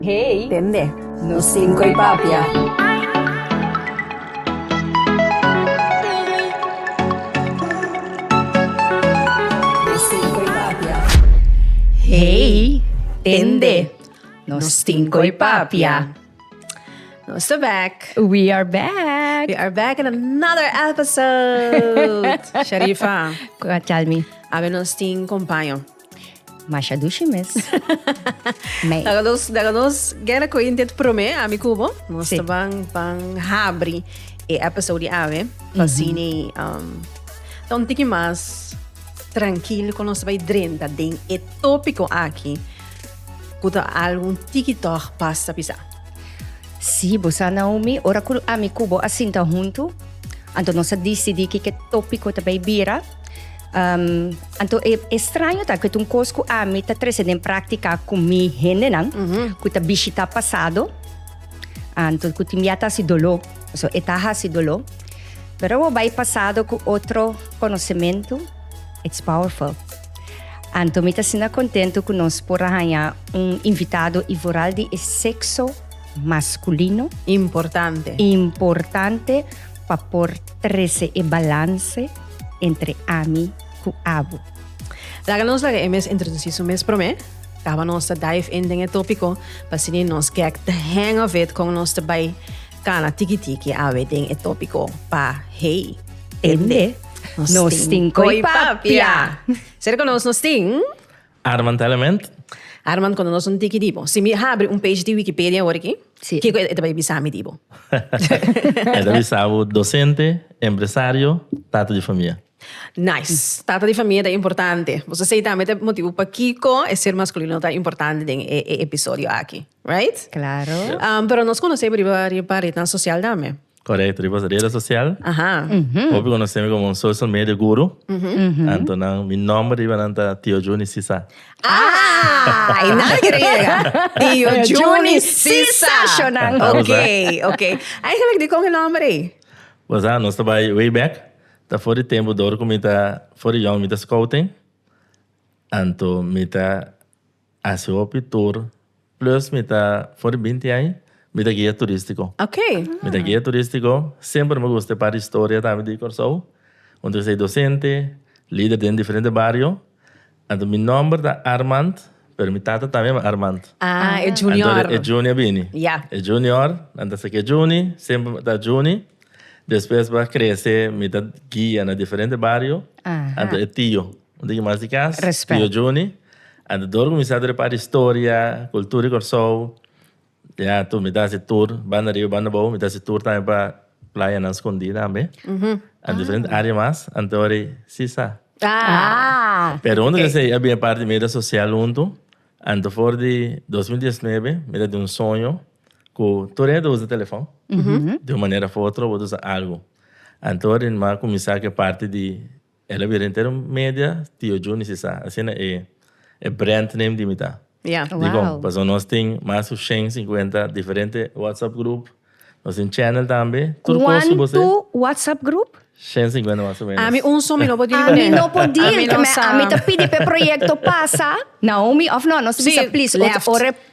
Hey. Tende. Nos tin koe papia. Hey, tende. Nos tin koe papia. Nos ta back. We are back. We are back in another episode. Sharifa. Tell me. Awe nos tin compaño. Masha dushi mes. Mei. Daga nos, daga nos guerra con India te promé, ami cubo, nos sí. van, van habri e episode ave, van sini, um, ta un tiki mas tranquilo con nos vai drenta den e tópico aquí, kuta algo tiki toch pasa pisa. Sí, bosa Naomi, ora kul ami kubo asinta huntu, anto nos a disidí kike tópico ta bai bira, Anto e estraño ta cu ta un cos cu ami ta trece den practica cu mi hendenan cu ta bishita pasado, anto cu tin bia ta haci dolo, pasobra e ta haci dolo. Pero awo bai pasado cu otro conocemento, it's powerful. Anto mi ta asina contento cu nos por a haya un invitado y vooral di e sexo masculino. Importante. Importante pa por. Trece e balance entre ami cu abo. Laga nos laga e mes introduci su mes prome. Caba nos ta dive in den e topico pa asini nos get the hang of it con nos ta bay cana tiki tiki awe den e topico pa hey tende nos tin coy papia. Ser cu nos nos tin. Armand Element. Armand, cuando nos un tiki di bo, si mi habri un page di Wikipedia awor aki, Sí. kico e ta bay bisa mi di bo? E ta bisa bo docente, empresario, tata di famia. Nice. Tata di famia ta importante. Pues esey tambe ta e motibu pakico e ser masculino ta importante den e e episodio aki. Right? Claro. Um, pero nos conoce bo riba riba ritan social tambe. Correcto, riba redes social. Hopi conocemi como un social media guru. Anto nan, mi nomber riba nan ta Tio Juny Sisa. Ah! I nan quiere yega. Tio Juny Sisa. Okay, okay. Eigenlijk dicon e nomber ei? Bo sa, nos ta bay way back. Ta for di tempo dor cu mi ta, for di yong mi ta scouting. Anto mi ta. A si hopi tur, plus mi ta for di binti ai mi ta guia turistico. Okay. Mi ta guia turistico, semper mi gusta e part di historia tambe di Corsou, unde esei docente, lider den diferente bario, anto mi nomber ta Armand, pero mi tata tambe a Armand. Ah, e junior. Anto e Juni a bini. Ya. E junior, nan ta saki e Juni, semper ta Juni, despues pa crece mi ta guia na diferente bario, anto e tio. Un digi mas di kas, Tio Juni. A ta dor kuminsá ta repara di storia, kultura di Kòrsou. Ya tur mi ta hasi tur banda riba, banda bou. Mi ta hasi tur tambe pa playanan skondí tambe. An diferente área mas. Anto wòrdu si sa. Pero huntu con esei a bini e parti di media sosial huntu. Anto for di dos mil diesnebe mi ta tin un soño ku tur hende ta usa telefòn. Di un manera of otro bo ta usa algu. Anto wòrdu mi a kuminsá ku e parti di. El a bira entero media Tio Juni si sa. Asina e e brand name di mi ta. Ya. Dikon? Wao. Pasobra nos tin mas ku shen sinkuenta diferente WhatsApp grup. Nos tin channel tambe. Tur kos ku bo ser. Kuantu WhatsApp grup? Shen sinkuenta mas o menos. Ami un so mi no por deal ku ne. Ami no por deal. Ami no sa. Ami ta pidi pa e proyekto pasa. Naomi of no? Nos a bisa please. Si, left. Ora e.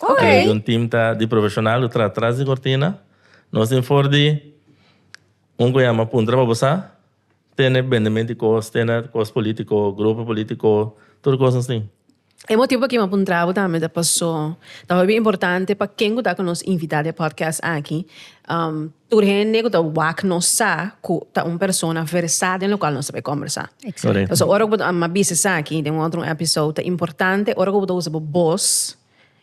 Ok. Pero di un team ta di profesional cu tra tras di cortina. Nos tin for di un cu yama Puntra pa Bosa. Tene bendement di cos, tene cos politico, grupo politico, tur cos nos tin. E motibo p'aki mi a puntra bo tambe ta paso ta hopi importante pa ken cu ta cu nos invita den podcast aki. Tur hende ku ta wak no sa ku ta un persona versá den lokual nos ta bay kòmbersá. Korek. Pasobra ora ku bo ta, a mi a bisa esaki den un otro èpisode, ta importante ora ku bo ta usa bo bos,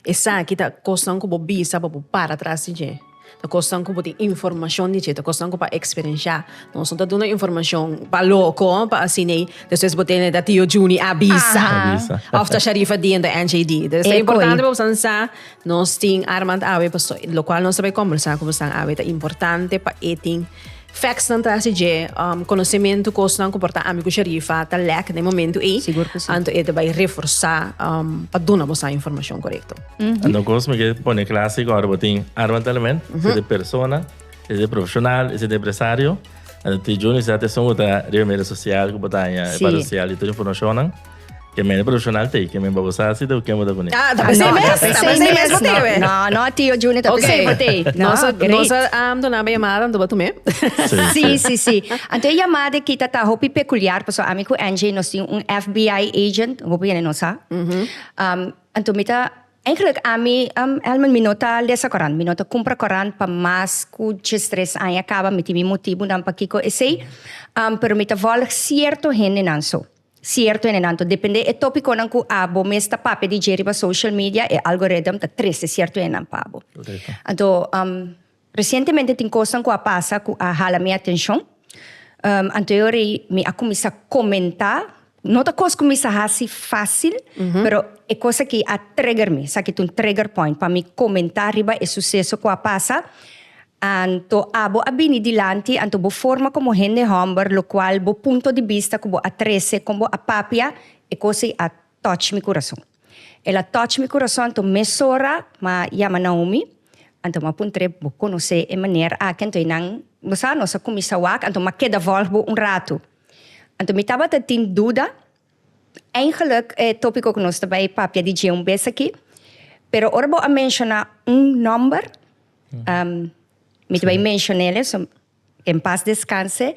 esaki ta kosnan ku bo bisa pa bo para tras di dje, ta kosnan ku bo tin informashon di dje, ta kosnan ku bo a eksperenshá. Nos no ta duna informashon pa loko, pa asin'ei, despues bo tende ta Tio Junie a bisa. A bisa. Òf ta Sharifa Deen, ta NJD. Entonces ta importante pa bo sa nan sa Nos tin Armand awe paso locual nos ta bay conversa cu bosnan awe ta importante pa e tin factsnan tras di dje, um, conocemento cosnan cu por ta ami cu Sharifa ta lack den momento ey. Sigur cu si. Anto e ta bay reforza um, pa duna bosnan informacion correcto. Anto cos mi ke pone clase gor bo tin Armand Element, si de persona, si de profesional, si de empresario. Anto ti Juni sa te son ta riba media social cu botanya, Sí. para social y tur informacionnan. Ke mende profesional te, ke men babosa hasi te ken bo ta kune. Ah, ta p'esei No, mes, ta p'esei p'esei mes mes, bo te no, we. no, no, tio Junior, ta Ok. p'esei bo te. No, Nos a, great. nos a am dona bo yamada, anto bo a tum'é. Sí, Sí, sí. sí, sí. Anto e yamada e kita ta hopi pekuliar, paso ami ku Angie nos tin un FBI agent, hopi hende no sa. Um, anto mi ta, eigenlik ami, um, Elman, mi no ta lesa korant, mi no ta kumpra korant pa mas ku djes tres aña kaba, mi tin mi motibunan pakiko esei, um, pero mi ta vòlg sierto hendenan so. Cierto enanto, depende e topiconan cu a bo mes ta papia di dje riba social media, e algorithm ta trece cierto enan pa bo. Correcto. Anto, um, recientemente tin cosnan cu a pasa cu a hala mi atencion, um, anto yo rei mi a cuminsa comenta, no ta cos cu mi sa haci facil, pero e cos aki a trigger mi, esaki ta un trigger point pa mi comenta riba e suceso cu a pasa, Anto abo a bini dilanti, anto bo forma komo hende hòmber, lokual bo punto di bista ku bo a trese kon bo a papia, e kos ei a tòch mi kurason. El a tòch mi kurason, anto mesora mi a yama Naomi, anto mi a puntr'é, Bo konosé e maner aki? Anto einan, bo sa, nos a kuminsá wak, anto mi a keda vòlg bo un ratu. Anto mi tabata tin duda, Eigenlijk e topico cu nos ta bay papia di dje un bes aki, pero ora bo a menciona un nomber, mi ta bay mencionele, so, que en paz descanse,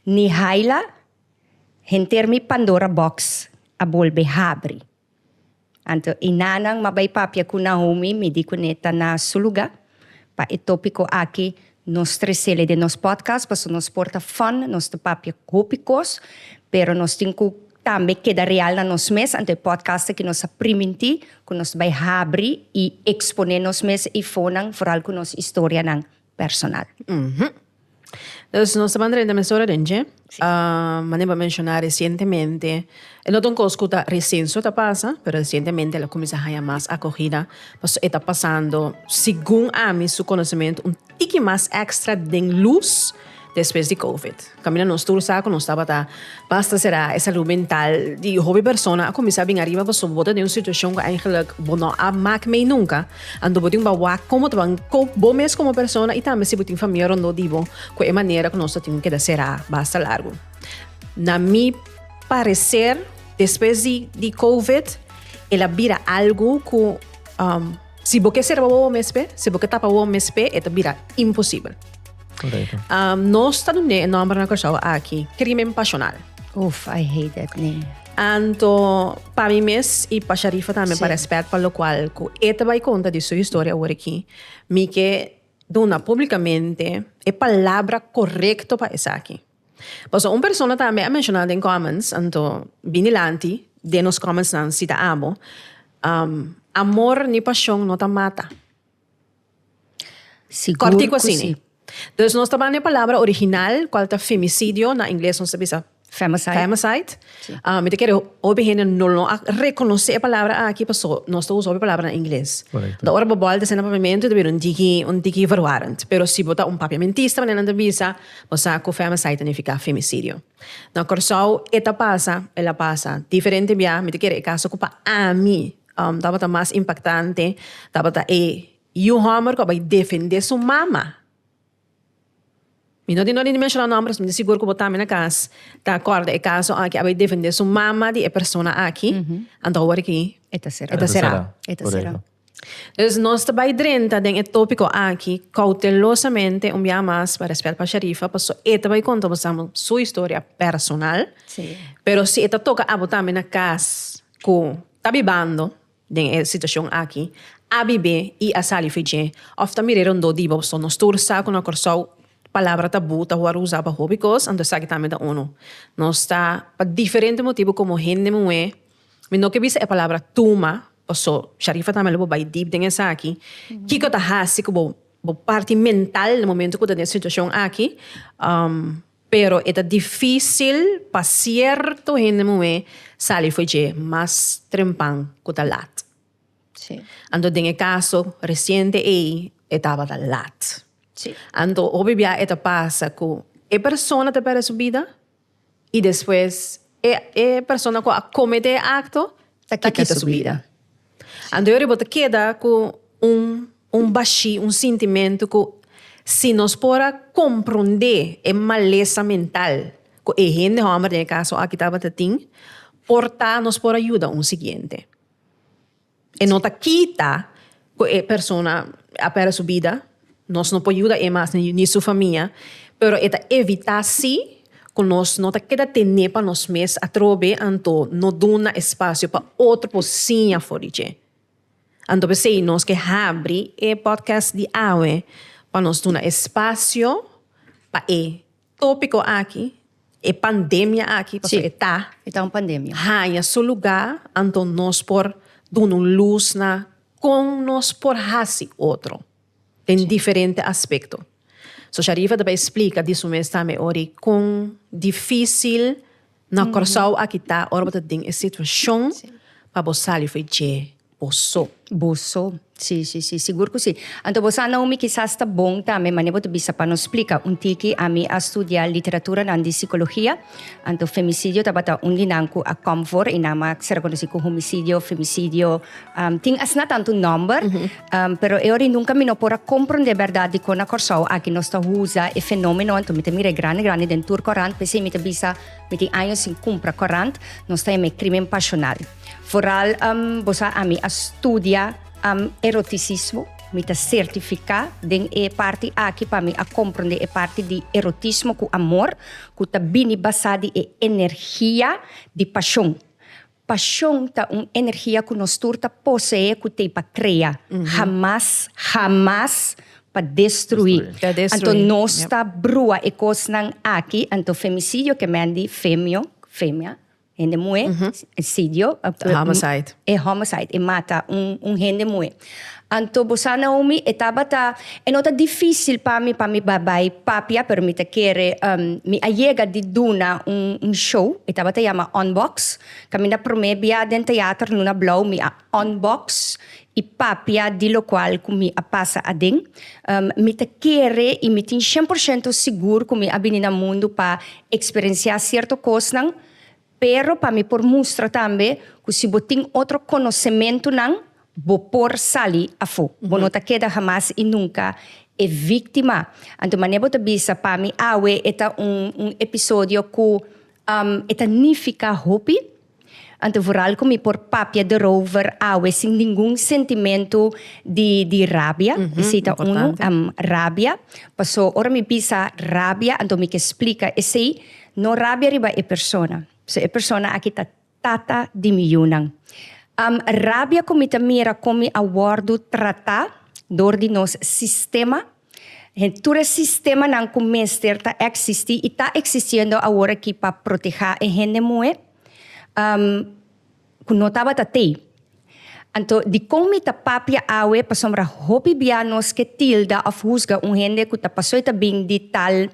Nihaila, henter mi Pandora box a bolbe habri. Anto e nanan ma bai papia ku Naomi midí kuné ta na su lugá. Pa e tópiko akí nos tresele den nos pòdkast pasobra nos por ta fòn, nos ta papia hopi kos, pero nos tin ku tambe keda real na nos mes, anto e pòdkast akí nos a primintí ku nos ta bai habri i eksponé nos mes i fonan, foral ku nos historianan. personal. Dus nos ta banda den emisora den dje. Manera bo a menshona resientemente, e no ta un kos ku ta resen so ta pasa, pero resientemente el a kuminsá haña mas akohida. Pasobra e ta pasando, segun ami su konosementu, un tiki mas èkstra den lus. Despues di covid, kaminda nos tur sa ku nos tabata basta será, e salú mental di hopi persona a kuminsá bin ariba pasobra bo ta den un situashon ku eigenlik bo no a mak mei nunka. Anto bo tin ku wak komo ta ban kop bo mes komo persona i tambe si bo tin famia rondó di bo ku e manera ku nos ta tin ku keda será basta largu. Na mi pareser despues di covid el a bira algu ku. Si bo ke serba wowo mespe, si bo ke tapa wowo mespe, e ta bira imposibel. Correcto. Um, nos ta dune e nomber na Curaçao aki, crimen pasional. Oof, I hate that name. Anto, pa mi mes y pa Sharifa tambe, sí. pa respect, pa lo cual, cu e te bai conta di su historia hoor aquí, mi ke duna publicamente e palabra correcto pa esaki. Pasobra un persona ta a menshoná den kòmens, anto bini lanti den nos kòmensnan si ta abo. Amor ni pashon no ta mata. Kòrtiku asini. Dus nos ta ban e palabra original, kual ta femicidio, na ingles nos ta bisa femicide. Ah, mi ta kere hopi hende no lo a reconoce e palabra aki, paso nos ta usa hopi palabra na ingles. Correcto. Da ora bo bal te sena papiamento, te bira un tiki, un tiki verwarend. Pero si bo ta un papiamentista, manera nan ta bisa, bo sa cu femicide ta nifica femicidio. Na Curaçao e ta pasa, el a pasa. Diferente bia, mi ta kere e caso cu pa ami um tabata mas impactante, tabata e yu homber cu a bay defende su mama. Mi no tin dor di menshona nombres, mi ta sigur ku bo tambe na kas ta akorda e kaso aki a bai defendé su mama di e persona aki, anto awor aki e ta será. E ta será. E ta será. Dus nos ta bai drenta den e tópiko aki koutelosamente un biaha mas pa rèspèt pa Sharifa paso e ta bai konta bo sama su historia personal, pero si e ta toka abo tambe na kas ku ta bibando, Den e situacion aki, a bibe y a sali fedje of ta mire rondó di bo, so no stoer sa cu na Corsou palabra tabú ta worde uza pa hopi cos, anto esaki tambe ta uno. Nos ta, pa diferente motibu como hende muhé, mi no ke bisa e palabra tuma, paso Sharifa tambe lo por bay deep den esaki, kico ta haci cu bo bo parti mental na momento cu bo ta den e situacion aki, Pero e ta difísil pa sierto hende muhé sali fo'i dje mas trempan ku ta lat. Sí. Anto den e kaso resiente ei e tabata lat. Sí. Anto hopi bia e ta pasa ku e persona ta pèrdè su bida i despues e e persona ku a kometé e akto Ta kita su bida. Anterior bo ta keda ku un un bashí, un sintimentu ku si nos por a komprondé e malesa mental ku e hende hòmber den e kaso aki tabata tin, por ta nos por a yuda un siguiente. E no ta kita. cu e persona a perde su bida, nos no por yuda e mas ni su famia, pero e ta evita si cu nos no ta keda tene pa nos mes atrobe anto no duna espacio pa otro por siña for di dje. Anto p'esey nos ke habri e podcast di awe pa nos duna espacio pa e. Tópiko aki, e pandemia aki, pasobra e ta, E ta un pandemia. haña su lugá anto nos por duna un lus na kon nos por hasi otro den diferente aspekto. So Sharifa ta bai splika di su mes tambe ori kon difísil Na Kòrsou aki ta ora bo ta den e situashon pa bo sali fai dje bo so. Bo so. Sí, sí, sí, sigur ku sí. Anto bo sa, Naomi, kisas ta bon tambe mane bo ta bisa pa nos splika. Un tiki ami a studia literaturanan di sikologia, anto femisidio tabata un di nan ku a kòm for, e nan mas ser konosí ku homisidio, femisidio, tin asina tantu nòmber. Pero e ora i nunka mi no por a komprondé bèrdat dikon na Kòrsou aki nos ta usa e fenómeno anto mi ta mira e grandi grandi den tur kòrant p'esei mi ta bisa mi tin año sin kumpra kòrant nos ta yama e krímen pashonal foral bo sa ami a studia erotisismo mi ta sertifiká den e parti aki pa mi a komprondé e parti di erotismo ku amor ku ta bini basá di e energia di pashon Pashon ta un energia ku nos tur ta poseé ku t'ei pa krea, hamas, hamas pa destruí. Anto nos ta brua e kosnan aki, anto femicidio ke men di femio, femia, hende muhé, sidio, e homicide, e mata un hende muhé. Anto bo sa Naomi, e tabata, e no ta difícil pa mi pa mi bai papia, pero mi ta kere, um, mi a yega di duna un, un show, e tabata yama Unbox, kaminda promé bia den teater Luna Blauw mi a unbox i papia di lokual ku mi a pasa aden. Um, mi ta kere i mi tin shen por shento sigur ku mi a bini na mundu pa eksperensiá sierto kosnan, Pero pa mi por mustra tambe cu si bo tin otro conocementunan, bo por sali afo. Bo no ta keda hamas y nunca e victima. Anto mane bo ta bisa, pa mi awe e ta un un episodio cu e ta nifica hopi. Anto vooral cu mi por papia erover awe sin ningun sentimento di di rabia. Esey ta uno, rabia. Paso ora mi bisa rabia, anto mi ke splica esey. No rabia riba e persona. So e persona aki ta tata di mi yunan. Am rabia ku mi ta mira kon mi a wòrdu tratá dor di nos sistema, hen tur e sistemanan ku mester ta eksistí i ta eksistiendo aworakí pa protehá e hende muhé am ku no tabata t'ei. Anto di kon mi ta papia awe pasobra hopi bia nos ke tilda òf husga un hende ku ta pasó i ta bin di tal,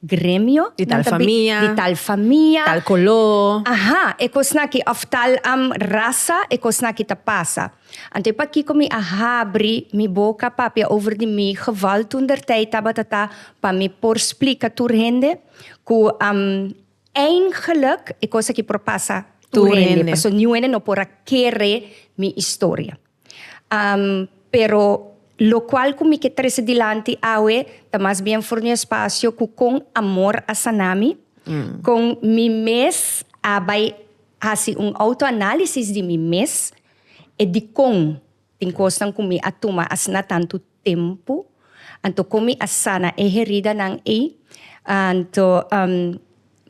gremio. Di tal famia. Di tal famia. Tal coló. Aha, e cosnan aki, of tal am rasa, e cosnan aki ta pasa. Anto e pakico mi a habri mi boca papia over di mi geval toendertijd tabata ta pa mi por splica tur hende cu am eindgelijk e cos aki por pasa tur hende. Paso niun hende no por a kere mi historia. Pero locual cu mi ke trese dilanti awe ta mas bien for di un espacio cu con amor a sana mi, con mi mes a bay haci un autoanalisis di mi mes e dicon tin cosnan cu mi a tuma asina tantu tempu, anto kon mi a sana e heridanan ei? Anto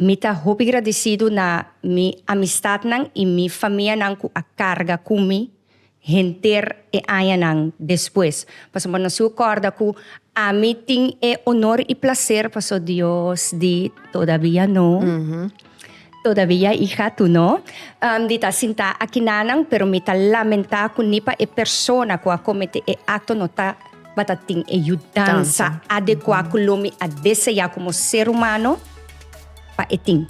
mi ta hopi gradisidu na mi amistatnan i mi famianan ku a karga ku mi henter e añanan despues? Pasobra bo no siu a kòrda ku ami tin e onor i plaser pasobra Dios di todabia no. Todavia i hatu no. Di ta sintá akinanan, pero mi ta lamentá ku ni pa e persona ku a komet'é e akto no tabata tin e yudansa adekuá ku lo mi a deseá komo ser humano pa e tin.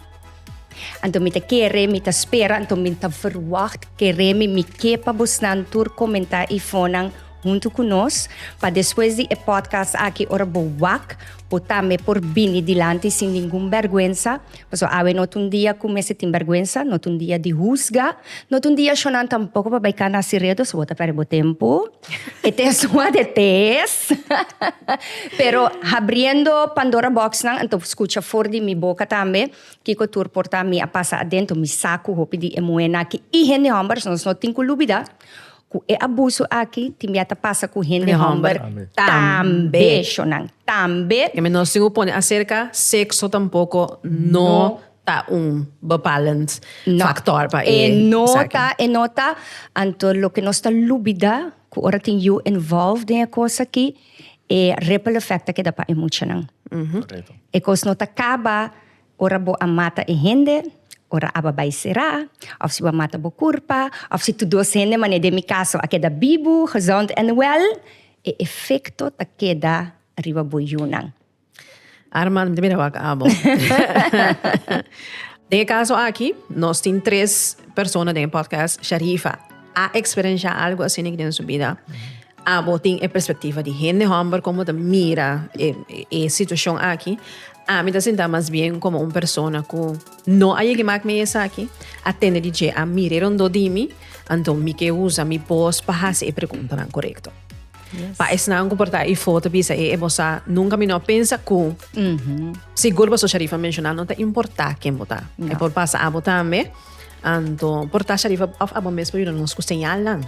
Anto mi ta kere, mi ta spera, anto mi ta verwagt kere mi mi ke pa bosnan tur komentá i fónan huntu ku nos, pa despues di e podcast aki ora bo wak, bo tambe por bini dilanti sin ningun bèrgwensa, Pasobra awe no ta un dia ku mester tin bèrgwensa, no ta un dia di husga, no ta un dia shonán tampoko pa bai kanta asiredo, so bo ta pèrdè bo tempu. E test wòrdu e test. Pero habriendo Pandora bòksnan anto por skucha for di mi boka tambe kiko tur por ta mi a pasa adentu, mi sa ku hopi di e muhénan aki i hende hòmber nos no tin ku lubidá Ku e abusu aki tin bia ta pasa ku hende hòmber tambe, shonnan, tambe. E menos tin ku pone aserka sekso tampoko no ta un bepalend faktor pa e esaki. E no ta, anto loke nos ta lubida ku ora tin yu involved den e kos aki e ripple effect ta keda pa e muchanan. E kos no ta kaba. Ora bo a mata e hende, ora aba bai será, of si bo a mata bo kurpa, of si tur dos hende, manera den mi kaso, a keda bibu, gezond en wèl, e efekto ta keda riba bo yunan. Arma, mi ta mira wak abo. Den e kaso aki, nos tin tres persona den e pòdkast, Sharifa a eksperenshá algu asina den su bida, abo tin e perspektiva di hende hòmber, komo ta mira e situashon aki. Ami ta sintá mas bien komo un persona ku no a yega mak mi esaki, a tende di dje a mire rondó di mi, anto mi ke usa mi bos pa hasi e preguntanan korekto. Pa esnan ku por ta ei foto bisa e ebosá, nunka mi no a pensa ku sigur boso sharifa a menshoná no ta importá ken bo ta. E por pasa abo tambe, anto por ta sharifa òf abo mes por yuda nos ku señalnan.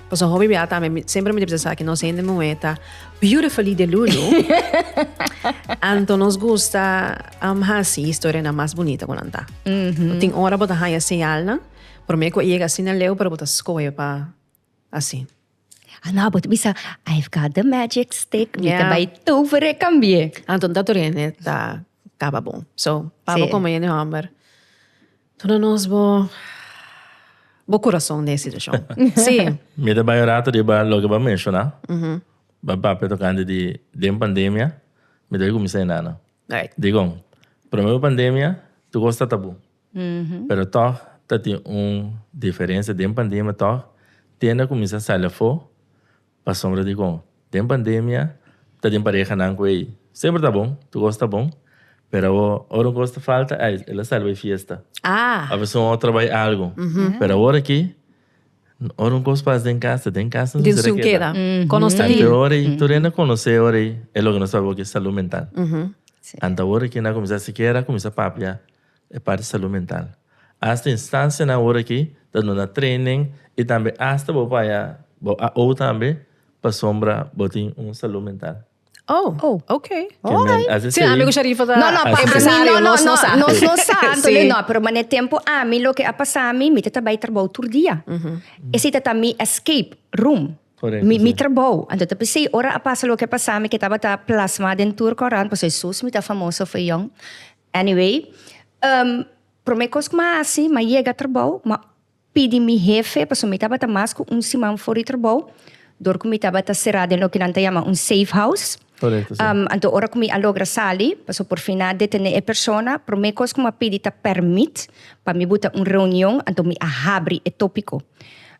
Pasobra hopi bia ta mi semper mi ta bisa sa ki nos hende muhé ta beautifully de lulu anto nos gusta um, hasi historianan mas bunita ku nan ta. Bo tin ora bo ta haña señalnan promé ku e yega asina leu pero bo ta skohe pa asi. Ana, bo ta bisa, I've got the magic stick, mi ta Ya. bai tovere kambie. Anto nan ta tur hende ta kaba bon. So pa bo Sí. komo hende hòmber Duna nos bo bo kurason den e situashon. Sí. Mi ta bai un rato riba loke bo a menshoná. Bo a papia tokante di den pandemia mi debe kuminsá e nana. Dikon? Promé bo pandemia tur kos ta tabú. Pero tòg ta tin un diferensia den pandemia tòg tenda kuminsá sali afó Pasobra di con, den pandemia ta den parehanan cu ey semper ta bon, tur cos ta bon, pero awor ora un cos ta falta, ay, el a sali bay fiesta, Ah. of esun otro bay algo. Pero awor aki, ora un cos pasa den cas, ta den cas nos Den mester a sun keda. keda. Con nos ta Antes lindo. ora ey, tur ey na conoce ora ey e loke nos tabawor cu e salud mental. Anto awor aki nan a cuminsa sikiera a cuminsa papia. E parti salú mental. Asta instansianan awor akí ta duna treinen i tambe asta bo por haña bo AO tambe pasobra bo tin un salú mental. Oh, ok. Alright. Asina serí. Sí, ami ku Sharifa ta empresario, nos no sa. Nos no sa, anto lei no. Pero manera tempu ami loke a pasá mi, mi ta tabay trabou tur dia. Esei ta ta mi escape room. Korekto, si. Mi trabou. Anto ta p'esei ora a pasa loke a pasá mi ke tabata plasmá den tur korant, pasobra e sus mi ta famoso for young. Anyway, um, prome kos ku mi a hasi, mi a yega trabou, mi a pidi mi hefe, pasobra mi tabata mas ku un siman for di trabou, dor ku mi tabata será den loke nan ta yama un safe house. Korekto, si. Um, anto ora ku mi a logra sali, pasobra por fin nan a detené e persona, prome kos ku mi a pidi ta pèrmit pa mi buta un reunion, anto mi a habri e tópiko.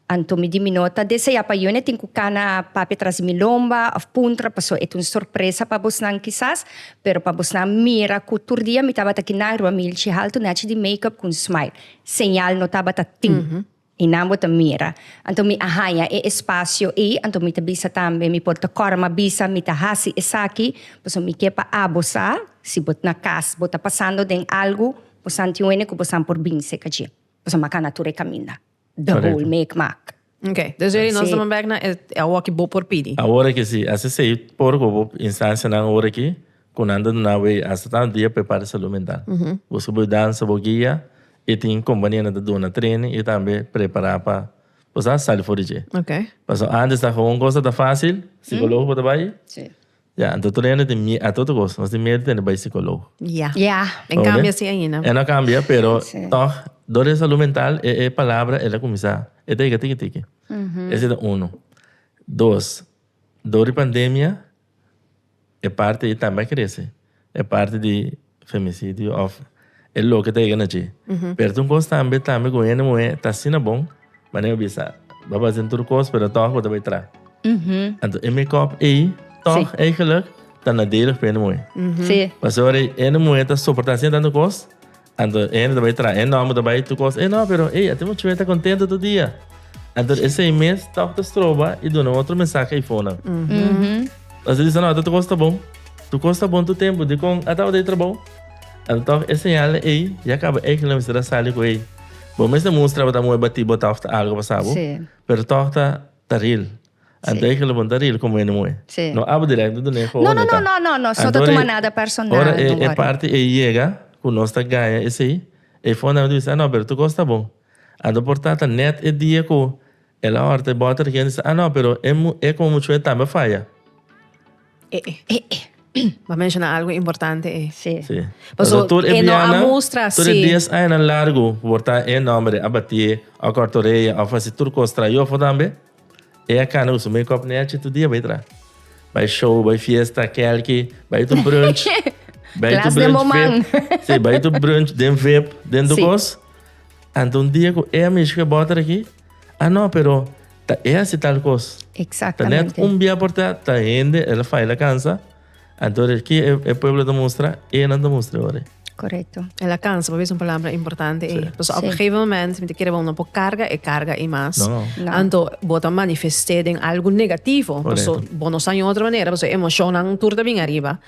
Anto mi di mi no ta desea pa Yone tin cu cana papia tras mi lomba of puntra paso e ta un sorpresa pa bosnan kisas, pero pa bosnan mira cu tur dia mi tabata kina riba mi hilchi haltu nachi di makeup cu un smile. Señal no tabata tin y nan bo ta mira. Anto mi a haña e espacio ey, anto mi ta bisa tambe mi por ta cora ma bisa mi ta haci esaki paso mi ke pa abo sa si bo na cas bo ta pasando den algo bosnan tin wene cu bosnan por binse caji paso mi a cana tur e caminda. the Correcto. whole micmac. Ok, dus ready nos Sí. damos back na e e awor ki bo por pidi. Awor aki si, a CC por hopi instancianan awor aki cu nan ta duna away hasta tanto dia pa e parte salud mental. Busca bo danza, bo guia y tin compañia nan ta duna training y tambe prepara pa bo sa sali for di dje. Ok. Paso antes ta hoon cosa ta facil, psicologo bo ta bay, Sí. Ya, anto tur hende tin mie-, a tur kos, nos tin miedo tende bai sikolog. Ya. Ya, e kambia así ainda. E no kambia, pero tog, dor e salú mental, e, e palabra el a kuminsá, e ta yega tiki tiki. Esei ta unu. Dos, dor di pandemia, e parti ei tambe a krese. E parti di femicidio of e loke ta yega na dje. Pero tin un cos tambe, tambe cu hende muhe ta asina bon, manera mi a bisa, bo a basa den tur cos, pero toch bo ta bay tra. Anto e make-up ey, toch eigenlijk ta nadelig pa hende muhe. Pasobra hende muhe ta soporta asina tanto cos. Anto ene ta bai tra, e nomber ta bai tu kos. E no, pero e ate mucho ta contento tu dia. Anto e seis mes toch ta stroba y duna otro mensaje y fona. Anto disa no, tu kos ta bon. Tu kos ta bon tu tempo di con a taba de trabao. Anto toch e señal ey ya caba ey lo mester a sali cu ey. Bo mes ta mustra bo ta moe bati bo toch ta algo pasabo. Pero toch ta ta ril. Anto hay que levanta ril como ene moe. Sí. No abo directo do ne No, no, no, no, no, no. So ta tuma nada personal. Ora e, e parti e yega cu nos ta gaya esey, e fon a bisa, ah no, pero tu cos ta bon. Anto por ta ta net e dia cu el a horta e bota reken bisa, ah no, pero e mu, e como mucho e tambe a faya. E, e. E, e. Bo menciona algo importante e. Sí. Sí. Paso tur e no a mustra, sí. Tur e dies aña largo por ta e nombre a batie, a cortoreya, a fasi tur cos trayo fo tambe. E a cana usa make up nechi tu dia bay tra bay show bay fiesta kelki bay tu brunch bay tu brunch vip si bay tu brunch den vip den tu cos anta un dia cu e amish ke bota aki a no pero ta e a si tal cos ta net un bia porta ta hende el a fai la cansa. Anto ki e pueblo ta mustra, e nan ta mustra ora. Correcto. En la cansa, por eso un palabra importante. Sí. Pues op sí. gegeven moment, mi te quiere no por carga e carga y más. No. no. Anto, bota manifesté den algo negativo. Por eso, bono san otra manera, pues emocionan turda bien arriba.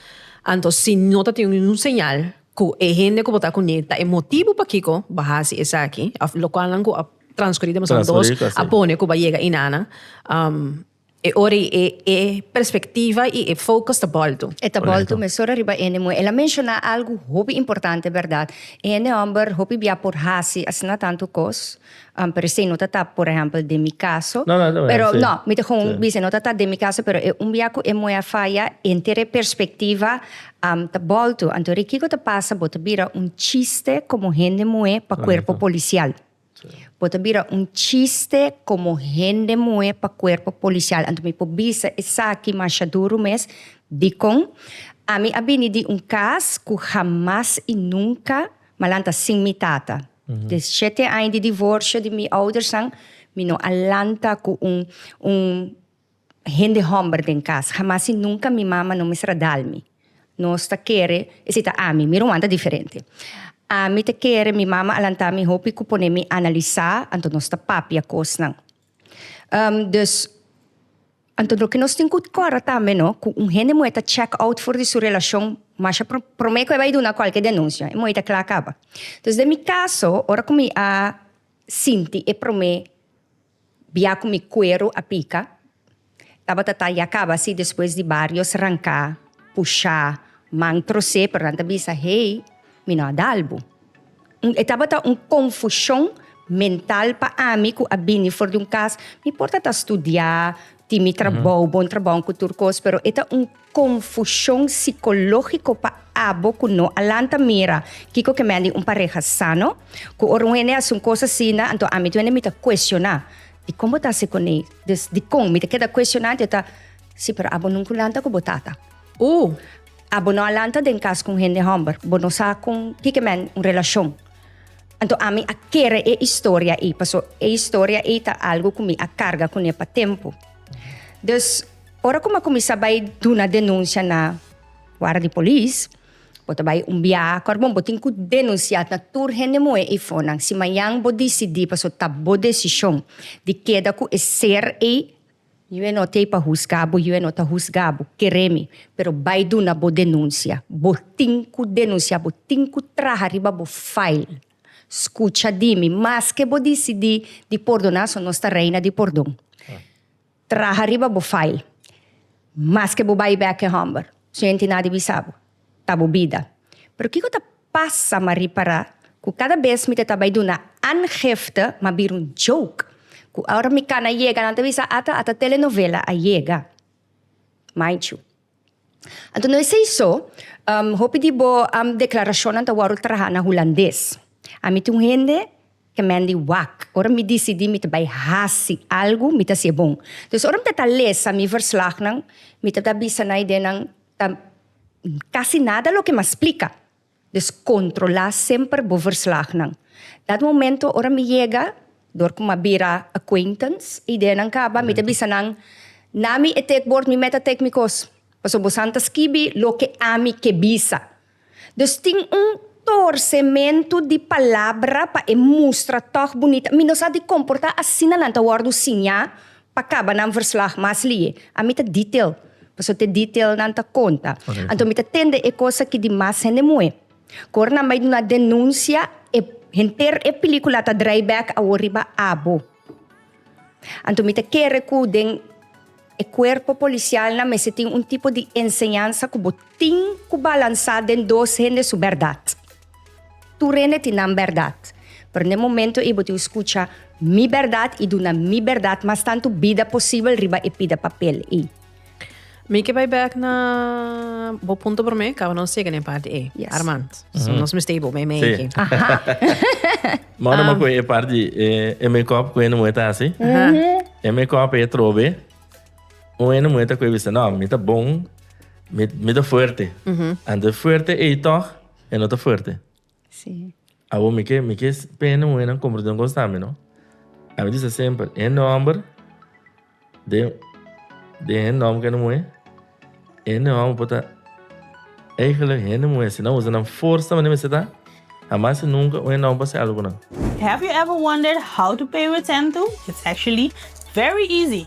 Anto, si no te tiene un señal, ku e hende ku bota kuné ta e motibu pakiko ba hasi esaki, of lokual nan ku a transkurí demasiado dos, a pone ku ba yega i nana, um, E ora i e e perspectiva i e focus ta bolto. E ta bolto mesun ora riba ene muhe. El a menciona algu hopi importante berdad. Ene homber hopi bia por haci asina tantu cos, pero esey no ta ta por ehempel den mi caso. No, no, pero no, mi ta gewoon bisa no ta ta den mi caso, pero e un bia cu e muhe a faya enter e perspectiva ta bolto. Anto ri kico ta pasa? Bo ta bira un chiste como hende muhe pa cuerpo policial. Bo ta bira un chiste como hende muhe pa cuerpo policial. Anto mi por bisa esaki masha duru mes. Dicon? Ami a bini di un cas cu jamas y nunca malanta sin mi tata. De shete aña di divorcio di mi oudersnan, mi no a lanta cu un, un. Hende homber den cas, Jamas y nunca mi mama no mester a dal mi. Nos ta kere, e si ta ami, mi ruman ta diferente. Ami ta kere, mi mama a lanta mi hopi cu pone mi analisa, anto nos ta papia cosnan. Um, dus, anto loke nos tin cu cora tambe no, cu un hende muhe ta check out for di su relacion, masha pro, prome cu e bay duna cualke denuncia, e muhe ta cla caba. Dus den mi caso, ora cu mi a sinti e prome Bia cu mi cuero a pica. Tabata ta ya caba asi despues di barios ranca, pusha, man troce pero nan ta bisa hey mi no a dalbo. Un e tabata un confusion mental pa ami cu a bini for di un cas mi por ta ta studia tin mi trabou bon trabou cu tur cos pero e ta un Confusion psicologico pa abo cu no a lanta mira kico ke mende un pareha sano, cu ora un hende hasi un cos asina anto ami tu hende mi ta cuestiona, y con bo ta hasi con ey? Dus dicon? Mi ta keda cuestiona anto yo ta, si pero abo nunca un lanta cu bo tata, uh abo no a lanta den cas cu un hende homber, bo no sa con kike men un relacion, anto ami a kere e historia ey, paso e historia ey ta algo cu mi a carga cune pa tempo, dus. Ora ku mi a kuminsá bai duna denunsia na wara di polis, bo ta bai un biaha ku Arbon, bo tin ku denunsiá na tur hende muhé ei fonan. Si mañan bo disidí paso ta bo desishon di keda ku e ser ei, yu no t'ei pa husga bo, yu no ta husga bo, keré mi, pero bai duna bo denunsia. Bo tin ku denunsiá, bo tin ku traha riba bo file. Skucha di mi, maske bo disidí di pordoná, so nos ta reina di pordon. Traha riba bo file. Maske bo bai bek e hòmber, su henti na di bisa bo, ta bo bida. Pero kiko ta pasa ma ripará ku kada bes mi ta ta bai duna aangifte ma bira un joke, ku ora mi kana yega nan ta bisa, Ata, ata telenovela a yega. Maichu. Anto no esei so, hopi di bo deklarashonnan ta wòrdu traha na hulandes. Ami ta un hende ke men di wak. Ora mi disidí mi ta bai hasi algu, mi ta hasié bon. Dus ora mi ta lesa mi verslagnan, mi ta bisa na idenan, ta, kasi nada loke mi a splika. Dus kontrolá semper bo verslagnan. Dat momento ora mi yega, dor ku mi a bira acquaintance, e ideanan kaba, mi ta bisa nan, Na mi e tek bord, mi met a tek mi kos. Pasobra bosan ta skibi loke ami ke bisa. Dus tin un torsementu di palabra pa e mustra tòg bunita. Mi no sa di komportá asina nan ta wòrdu siñá Pa kaba nan verslag mas lie. Ami ta detail, paso t'e detail nan ta konta. Correcto. Anto mi ta tende e cosa ki di mas hende moe. Cu ora nan bay duna denuncia, e henter e pelicula ta draai back awor riba abo. Anto mi ta kere cu den e cuerpo policial nan mester tin un tipo di enseñansa cu bo tin cu balansa den dos hende su berdad. Tur hende tin nan bèrdat, pero n'e momento ei bo tin skucha Mi bèrdat i duna Mi bèrdat mas tantu bida posibel riba e pida papel ei. Mi ke bai bèk na bo punto promé, kaba nos yega na e parti ei, Armand. So nos mester bo mei mei aki. Mò no makoe e parti di e mekòp ku hende muhe ta hasi. E mekòp ei e trobe. Un hende muhe ta koe bisa, No, mi ta bon, mi ta fuerte. Anto e fuerte ei tòg. E no ta fuerte? Sí. Awor mi ke mi ke pene muhernan komprende un kos tambe, no? A mi di sa semper, e nòmber den den hen nòmber kende muher, e nòmber por ta eigenlijk hende muher si nan usa nan forsa manera mester ta, hamas i nunka un hen nòmber por hasi algu ku nan. Have you ever wondered how to pay with Sentu? It's actually very easy!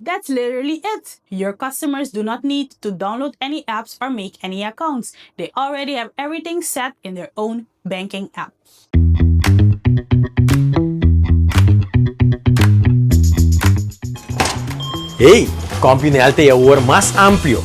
That's literally it! Your customers do not need to download any apps or make any accounts. They already have everything set in their own banking app. Hey! CompuNL ta e awor mas amplio.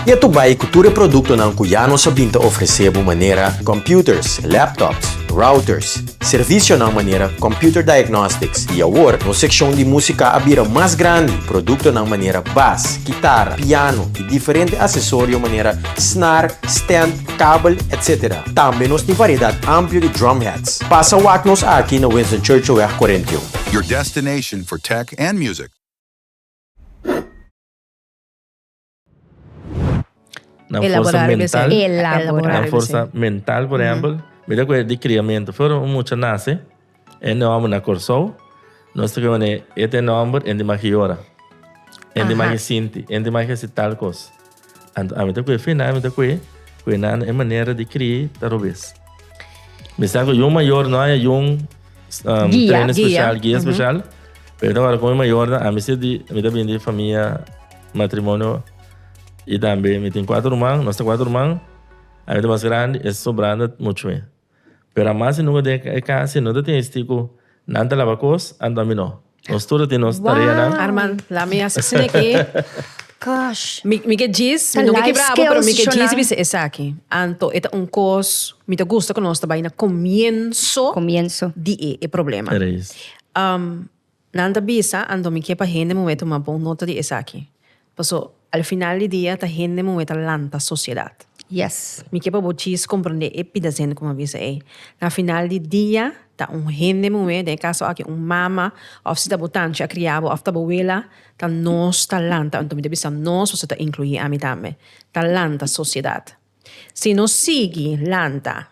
Ya tu bay cu tur e productonan cu ya nos a bin ta ofrece bo manera computers, laptops, routers, Servisionan manera Computer Diagnostics i awor nos sekshon di músika a bira mas grandi. Produktonan manera bas, kitara, piano i diferente asesorio manera snar, stand, kabel, etc. Tambe nos tin variedat amplio di drum hats. Pasa wak nos aki na Winston Churchillweg 41. Your destination for tech and music. Nan forsa mental. Nan forsa mental por ehempel. Mira cu e di criamento. Flor un mucha nace. E nomber na Corsou. Nos ta kiba manera e ta e nomber en di magi yora. En di magi sinti. En di magi haci tal cos. Anto ami ta cu e fina. Ami ta cu e. Cu e nana e manera di cri ta robes. Mi sa cu yun mayor no hay aun train special. Guia special. Pero mi ta word cu e mayornan. Ami si di. Mi ta bini di familia. Matrimonio y tambe mi tin cuatro ruman, nos ta cuatro ruman, a mi ta mas grandi, e sobrando ta mucho mi. Pero a mas di nunca den e casa si no ta tin esti cu nan ta laba cos, anto a mi no. Nos tur ta tin nos tareanan. Arman, laat me hasi sneki. Gosh. Mi mi ke djis, mi Ta no ke life kibra abo, pero mi skills ke djis i shonan. bisa esaki. Anto e ta un cos, mi ta gusta cu nos ta bay na comienzo Comienzo. di e e problema. Reis. Um, Nan ta bisa, Anto mi ke pa hende muhé tuma bon nota di esaki. Paso, al final di dia ta hende muhé ta lanta sosiedat. Yes, mi ke pa bo djis komprondé e pidas hende ku mi a bisa ei. Na final di dia, ta un hende muhé, den e kaso aki un mama, òf si ta bo tanchi a kria bo, òf ta bo wela, ta nos ta lanta, anto mi ta bisa nos, paso ta inkluí ami tambe, ta lanta sosiedat. Si nos sigui lanta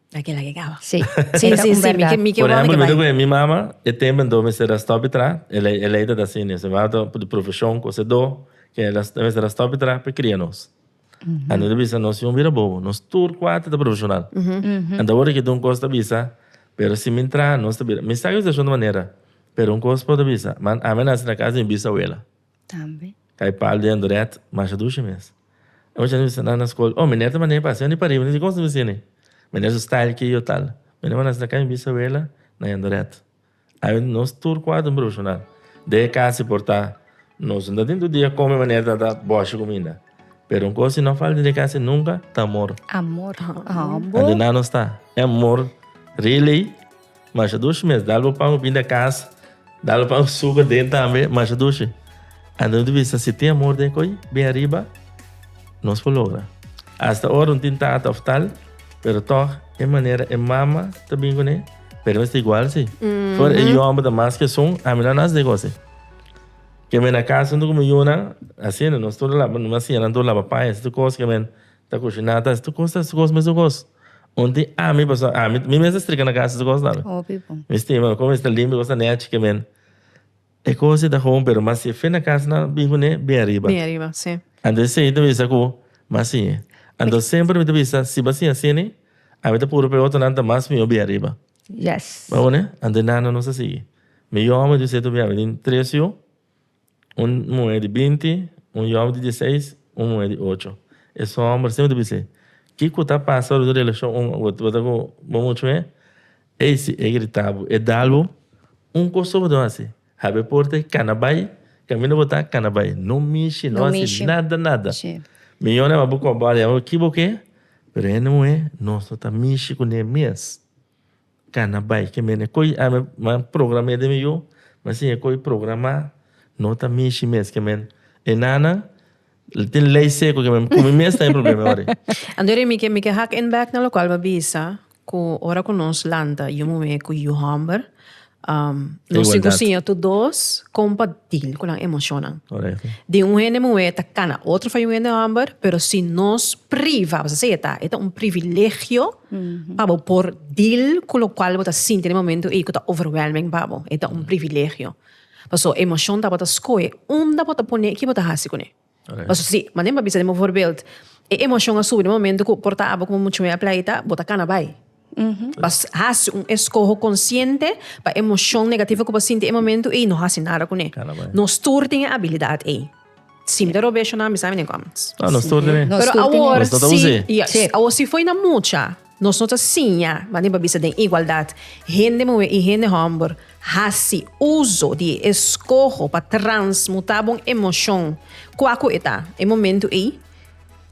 Ta kila ke kaba. Sí. Sí, sí, sí. Mi ke, mi ke Por ejemplo, mi ta cu e mi mama, e tempo ento mester ta stop tra, e ley, e ley ta ta asina, si bo ta di profesion cu sedo, ke el a, e mester a stop tra pa cria nos. Anto ta bisa nos yiun bira bobo, nos tur cuater ta profesional. Anto awor aki un cos ta bisa, pero si mi ntra, nos ta bira, mi sa cu ta shon di manera, pero un cos bo ta bisa, man, ami a naci na casa di mi bisawela. Tambe. Kai pal den dret masha dushi mes. E mucha ni bisa nan na skol. Oh, meneer ta manda mi pa asina ni pa riba. Ni di, Kon su ta bisini? Meneer su style ki yo tal. Meneer manda asina kai mi bisawela na yen dret. Ai mi nos tur kuadro un profeshonal. Den e kasi por ta nos no ta tin tur dia kome meneer ta ta boshi ku mi na. Pero un kos si no falta den e kasi nunka ta amor. Amor. Andi nan nos ta. E amor really. Mashadushi mes dal bo pan bo bin den cas dal bo pan bo suga den tambe mashadushi anto nos bisa si tin amor den coyi bin ariba nos por logra hasta ora no tin tata of tal pero tog e manera e mama ta bin cune pero mester igual si for e yu homber ta mas ke esun ami no a nace den gosi kimen na casa mi yunan asina nos tur ta laba mi a siña nan tur ta laba paña esey ta cos kimen. Ta cushiná ta tur cos ta escos mes escos un tin ami pasobra ami mi mes ta strika na casa escos tambe mi stima como esta limpio cos ta nechi ke men e cos ta home pero mas si fe na casa nan a bin cune bin ariba anto esey ta bisa cu mas siñe anto semper mi ta bisa si bo a siña asini ami ta puru pe otronan ta mas mior bin ariba bo a wone anto e nana nos a sigui mi yome ta bisa eto biabe tin tres yu. Un muhé di binti, un yòbi di dieseis, un muhé di ocho. E su hòmber semper ta bis'é, Kiko ta pasa ora bo ta relashon un bo ta ku bo muchu hé? Ey si e grita bo, e dal bo un kosa bo ta hasi, hab'é e porta y kana bai, kaminda bo ta, kana bai. No mishi, no hasi nada, nada. Mi yòna bo kòp bòt, bo ki bo ke? Pero hende muhé no so ta mishi kuné mes. Cana bay ke mene coy ami a programé den mi yu mi a siña e coy programa no ta mishi mes ke men e nana tin ley seco ke men cu mi mes ta e problema ahora. Antori mi ke mi ke hak in back na lo cual mi a bisa cu ora cu nos lanta yu muhé cu yu homber nos tin cu siña tur dos con pa deal cu nan emocionnan di un hende muhé ta cana otro fa yu hende homber pero si nos priva a seta e ta un privilegio pa bo por deal cu locual bo ta sinti den e momento ey cu ta overwhelming pa bo. E ta un privilegio. Pasobra e emocion ta bo ta scoge unda bo ta pone y ki bo ta haci cune. Pasobra si, manda mi pa bisa den voorbeeld, e emocion a subi den e momento cu por ta abo como mucho mey a pleita, bo ta cana bay. Mas haci un escoho consciente pa e emocion negativo cu bo sinti den e momento ey no haci nada cune. No stuur tin e habilidad ey. Sim ta robesho nan bisa menen kom. Ah nos tur tene. Pero awor si. Nos no ta use. Yes. Sí. Awor si foi na mucha nos no ta siña manera pa bisa den igualdad hende muhé i hende homber hasi uso di e skoho pa transmuta bon emoshon kua ku e ta e momento ei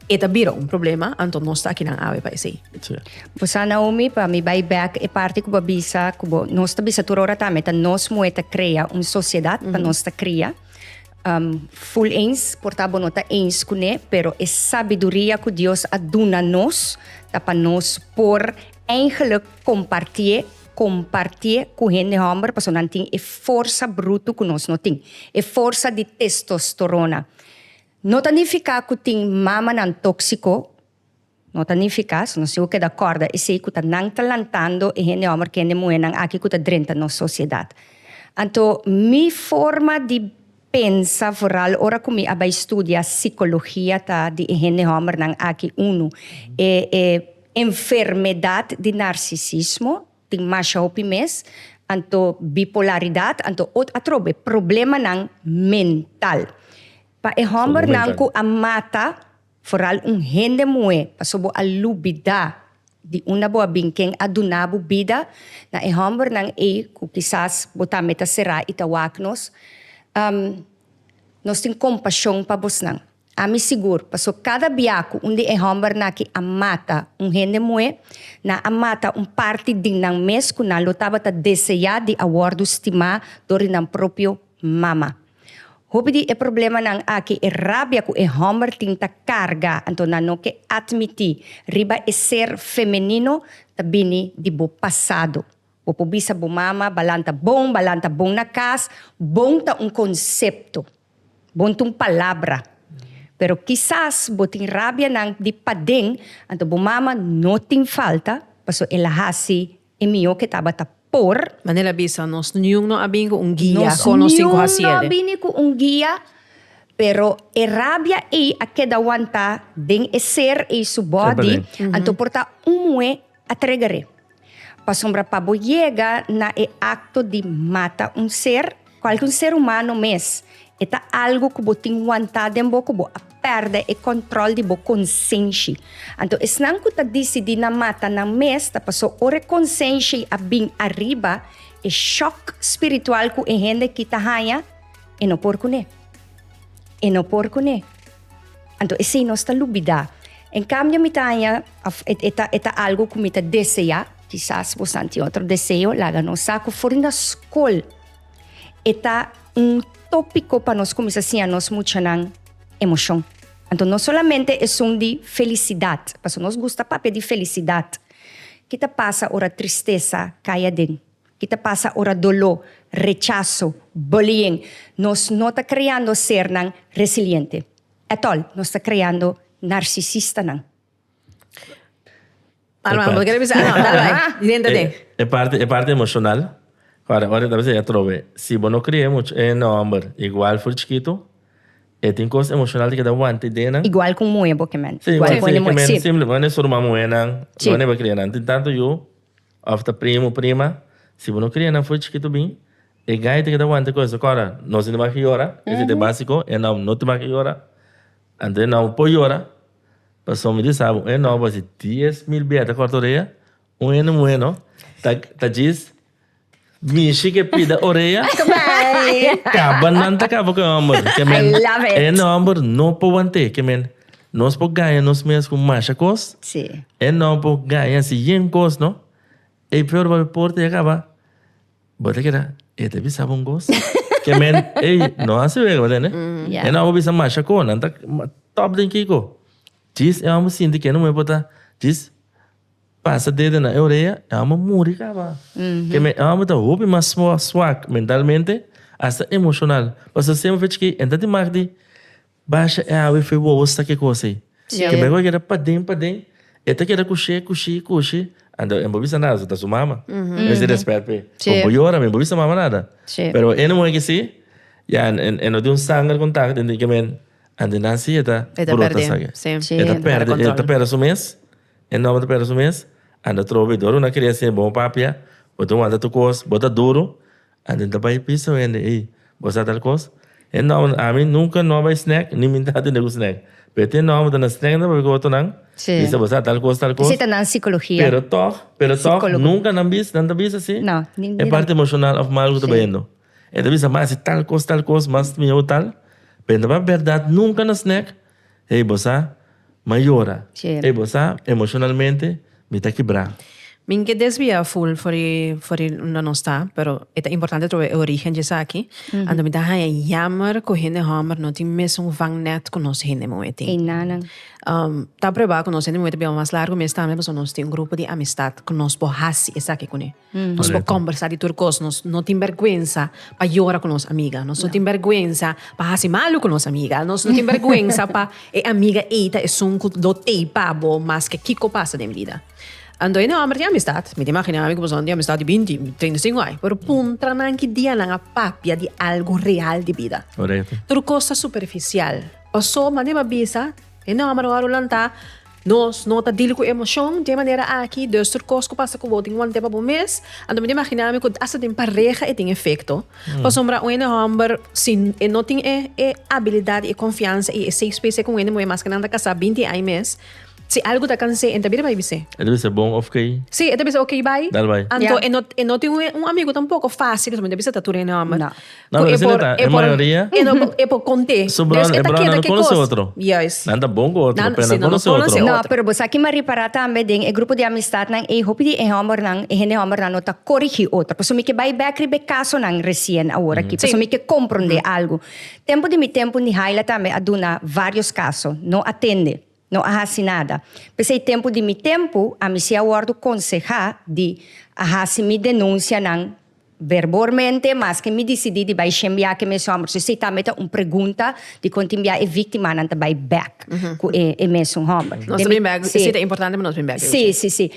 e ta bira un problema anto nos ta akinan awe pa esei. Sí. Bo sa Naomi pa mi bai back e parti ku bo a bisa ku bo nos ta bisa tur ora ta me ta nos muhé ta krea un sociedad pa nos ta kria Um full eens por ta bo no ta eens cu ne, pero e sabiduria cu Dios a duna nos ta pa nos por eindelijk compartie compartie cu hende homber paso nan tin e forsa bruto cu nos no tin, e forsa di testosterona. No ta nifica cu tin mamanan toxico, No ta ni efikas. Nos tin ku keda kòrda esei ku ta nan ta lantando e hende hòmber ku hende muhénan aki ku ta drenta nos sosiedat. Anto mi forma di pensa, foral ora ku mi a bai studia sikologia, ta di e hende hòmbernan aki unu. E e enfermedat di narsisismo tin masha hopi mes, anto bipolaridat, anto ot atrobe problemanan mental. Pa e hòmbernan ku a mata. Foral un hende muhé, paso bo a lubidá di unda bo a bin, ken a duná bo bida, na e hòmbernan ei ku kisas bo tambe ta será i ta wak nos. Am, nos tin kompashon pa bosnan. Ami sigur, paso kada bia ku un di e hòmbernan aki a mata un hende muhé, nan a mata un parti di nan mes ku nan lo tabata deseá di a wòrdu stimá dor di nan propio mama. Hopi di e problemanan aki e rabia ku e hòmber tin ta karga, anto nan no ke atmití riba e ser femenino ta bini di bo pasado. Bo por bisa bo mama, Balan ta bon, Balan ta bon na kas. Bon ta un konsepto, bon ta un palabra. Pero kisas bo tin rabianan di paden, anto bo mama no tin falta pasobra el a hasi E mihó ke tabata por. Manera el a bisa nos, niun no a bini ku un guia kon nos tin ku hasi el. Niun no a bini ku un guia, pero e rabia ei a keda wanta den e ser ei su bòdi, anto por ta un muhé a tregger'é. Pasobra pa bo yega na e akto di mata un ser. Cual cu un ser humano mes, e ta algo cu bo tin wanta den bo cu bo a perde e control di bo consenshi. Anto esnan cu ta dicidi na mata nan mes ta paso ora e consenshi a bin ariba, e shock spiritual cu e hende aki ta haya, e no por cune. E no por cune. Anto esei nos ta lubidá. En kambio mi ta haña, of e, e, ta, e ta algo ku mi ta deseá. Kisas bosan tin otro deseo, laga nos sa ku for den da skol e ta un tópiko pa nos kuminsá siña nos muchanan emoshon. Anto no solamente esun di felisidat, pasobra nos gusta papia di felisidat. Ke ta pasa ora tristesa kai aden? Ki ta pasa ora doló, rechaso, bullying, nos no ta creando sernan resiliente. At all, nos ta creando narcisistanan. Alma, bo ta kere bisa? Ah, no, dale bai. Di dentro den. E parti, e parti emocional. Ahora, ora e ta bisa ya trobe, si bo no cria e much, e homber igual for chikito, e tin cos emocional di keda wanta i dena. Igual cu muhe bo, ke men. Si, igual cu e muhe. Si. Bo no e surma muhenan, bo no e ba crianan. Tin tanto yu. Of ta primo, prima, si bo no cria nan fo'i chikitu bin, e gaita ke ta wanta kos akora no sinti mas ke yora, e sinti basiko, e nan no ta mas ke yora, anto e nan bo por yora, pasobra mi di sa bo, un heno bo hasi dies mil biaha ta corta orea, un heno bueno ta ta djis. Mishi ke pida orea. Kaba nan ta kaba ku e hòmber. Ke men e hòmber no por want'é. Ke men nos por gaña nos mes ku masha kos. E no por gaña si yen kos no. E peor papia e por te a kaba. Bo ta keda e ta bisa bo un kos? Ke men ey no hasi wega bo ta ende. E no por bisa masha kos. Nan ta top den kiko. Djis e hòmber sinti ke e no por ta djis. Pasa dedo na e orea, e homber muri caba. Ke men homber ta hopi mas swak mentalmente, hasta emocional. Pasobra semper fechi ke en ta tin mak di basha e awe fe wowo sa ke cos ey. Ke mehor keda paden paden, e ta keda cushey, cushey, cushey, anto e bo bisa nada, su ta su mama. Mester respet p'e. Bo bo yora, mi bo bisa mama nada. Pero ene muhe ke si, ya e no tin un sanger contact, tin di ke men, anto e naci e ta brota sa ke. E ta perde, e ta perde su mes. E nòmber ta pèrdè su mes. Anda trobo bay dor. Bo na kere hasié bon papia. Bo ta wanta tur kos. Bo ta duru. Anto e ta bay pisa pa hende, Ey, bo sa tal kos? E nòmber, ami nunka no a bay snèk, ni mi no a tende ku snèk. Pero te nòmber ta na snèk nta papia ku otonan bisa bo sa tal kos, tal kos. Pero tòg, pero tòg, nunka nan bisa, nan ta bisa si e parti emoshonal òf mal ku ta bayendo. E ta bisa, Masi, tal kos, tal kos, mas miau tal. Pero nta papia bèrdat, nunka na snèk. Hey bo sa, m'a yora. Hey bo sa, emocionalmente mi ta kibrá. Min ke desvia full fori fori unda nos ta, pero e ta importante trobe e origen dje esaki. Anto mi ta haña yammer ku hende hòmber no tin mesun vangnet ku nos hende muhé tin. Ei nanan. Ta aprobá ku nos hende muhé ta biba mas largu mes tambe, pasobra nos tin un grupo di amistat ku nos por hasi esaki kuné. Nos por kombersá di tur kos. Nos no tin bèrgwensa pa yora ku nos amiga. Nos no tin bèrgwensa pa hasi malu ku nos amiga. Nos no tin bèrgwensa pa e amiga ei ta esun ku lo teipa bo maske kiko pasa den bida. Anto hende hòmber tin amistat. Mi ta imaginá mi ku pasobra tin amistat di binti, treinta i sinku aña. Pero puntra nan ki dia nan a papia di algu real di bida. Tur kos ta superfisial. Pasobra mi a bisa hende hòmber ora ku lantá. Nos no ta dil ku emocion den manera aki, dus tur kos ku pasa ku bo tin want'e pa bo mes. Anto mi ta imagina mi ku asta den pareha e tin efecto. Pasobra un hende homber si e no tin e e abilidad i e confiansa i e safe space e ku un hende muhe maske nan ta casa binti ai mes, si algu ta canse e ta bira bai bis'e. E ta bisa bon of key. Si, e ta bisa ok bai. Dal bai. Anto e no tin un amigu tampoco facil pasobra mi ta bisa ta tur hende homber. Na Cu e Brazil por- eta, e e por- mayoria. E no por- e por conté. Su broer- Después e ta broer queda no ke conoce cos? otro. Juist. Nan ta bon cu otro, Nan- pero si nan no conoce conoce otro. otro. No, pero bo sa kiman repará tambe den e grupo di amistadnan ei, hopi di e hòmbernan, e hende hòmbernan no ta corigí otro. Pasobra mi ke bai bèk riba e casonan recien awor aki. Sí. Pasobra mi ke comprendé algu. Tempu di mi tempu Nihaila tambe a duna varios caso, no atende. No a hasi nada. P'esei tempu di mi tempu, ami si a wòrdu konsehá di a hasi mi denunsianan verbormente, maske mi disidí di bai shen biaha ku e mesun hòmber. Su esei tambe ta un pregunta di kon tin biaha e víktimanan ta bai bèk ku e mesun hòmber. Nos ta bin bèk, esei ta importante pa nos bin bèk. Sí, sí, sí.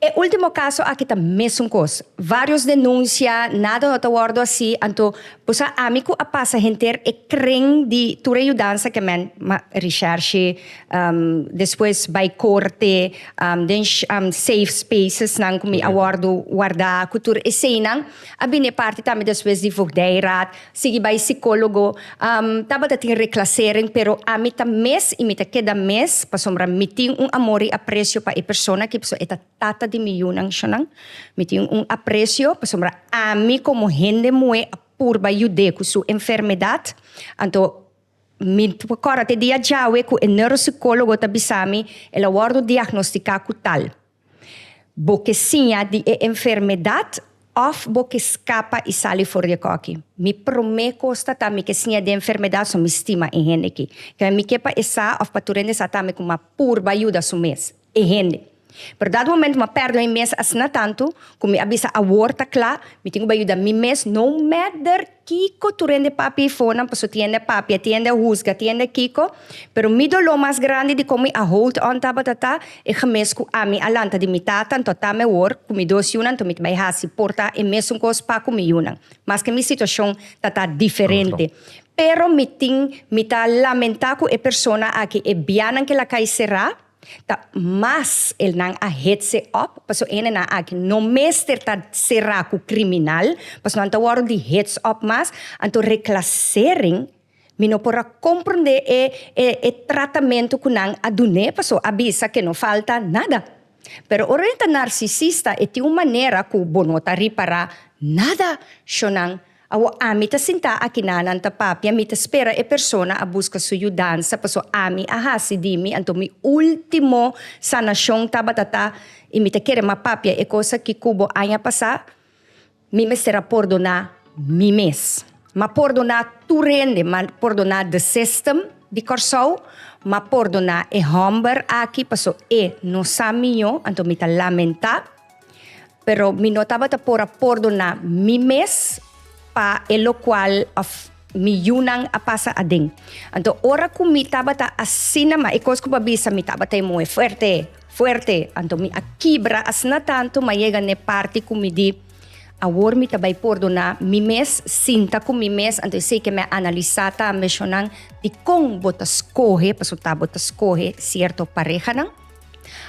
E ultimo caso aki ta mesun cos. Varios denuncia, nada no ta wordo asi, anto bo sa ami cu a pasa henter e cren di tur e yudansa ke men ma recherche, despues bay corte, den safe spaces nan cu mi a wordo warda cu tur eseinan, a bini e parti tambe despues di voogdijraad. Sigui bai sikólogo. Tabata tin reklasering, pero ami ta mes i mi ta keda mes pasobra mi tin un amor i apresio pa e persona aki pasobra e ta tata di mi yunan shonnan. Mi tin un apresio pasobra ami komo hende muhé a purba yud'é ku su enfermedat. Anto mi por kòrda te dia djawe ku e neurosikólogo ta bisa mi el a wòrdu diagnostiká ku tal. Bo ke siña di e enfermedad òf bo ke skapa i sali for di e kòki? Mi promé kos ta ta mi ke siña di e enfermedad so mi stima e hende aki. Kembe mi ke pa e sa òf pa tur hende sa tambe ku m'a purba yuda su mes e hende. Pero dado momento m'a pèrdè mi mes asina tantu ku mi a bisa awor ta kla, mi tin ku bai yuda mi mes no matter Kiko tur hende papia i fonan paso tin hende a papia tin hende a husga tin hende a kiko pero mi doló mas grandi di kon mi a hold on tabata ta e gemes ku ami a lanta di mi tata anto a tame wor ku mi dos yunan anto mi ta bai hasi por ta e mesun kos pa ku mi yunan maske mi situashon ta ta diferente pero mi tin mi ta lamentá ku e persona aki e bianan ke la kai será. Ta mas elnan a hetse op, paso hendenan aki no mester ta sera ku kriminal, paso nan ta wòrdu di hets op mas. Anto reklasering, mi no por a komprondé e e tratamentu ku nan a dun'é, paso a bisa ke no falta nada. Pero ora e ta narsisista e tin un manera ku bo no ta ripará nada shonnan. Awor ami ta sintá aki na, nan ta papia, mi ta spera e persona a buska su yudansa, paso ami a hasi di mi, anto mi último sanashon tabata ta, i mi ta kere mas papia e kos aki ku bo aña pasá, mi mester a pordoná mi mes. M a pordoná tur hende, m a pordoná de sistem di Kòrsou, m a pordoná e hòmber aki, paso e no sa miño, anto mi ta lamentá. Pero mi no tabata por a pordona mi mes pa e locual of mi yunan a pasa aden. Anto ora cu mi tabata asina, ma e cos cu bo a bisa mi tabata e moe fuerte, fuerte, anto mi a kibra asina tanto mi a yega n'e parti cu mi di, Awor mi ta bay pordona mi mes, sinta cu mi mes anto esey ke mi a analisa ta ambeshonan dikon bo ta scoge, pasobra ta bo ta scoge cierto parehanan.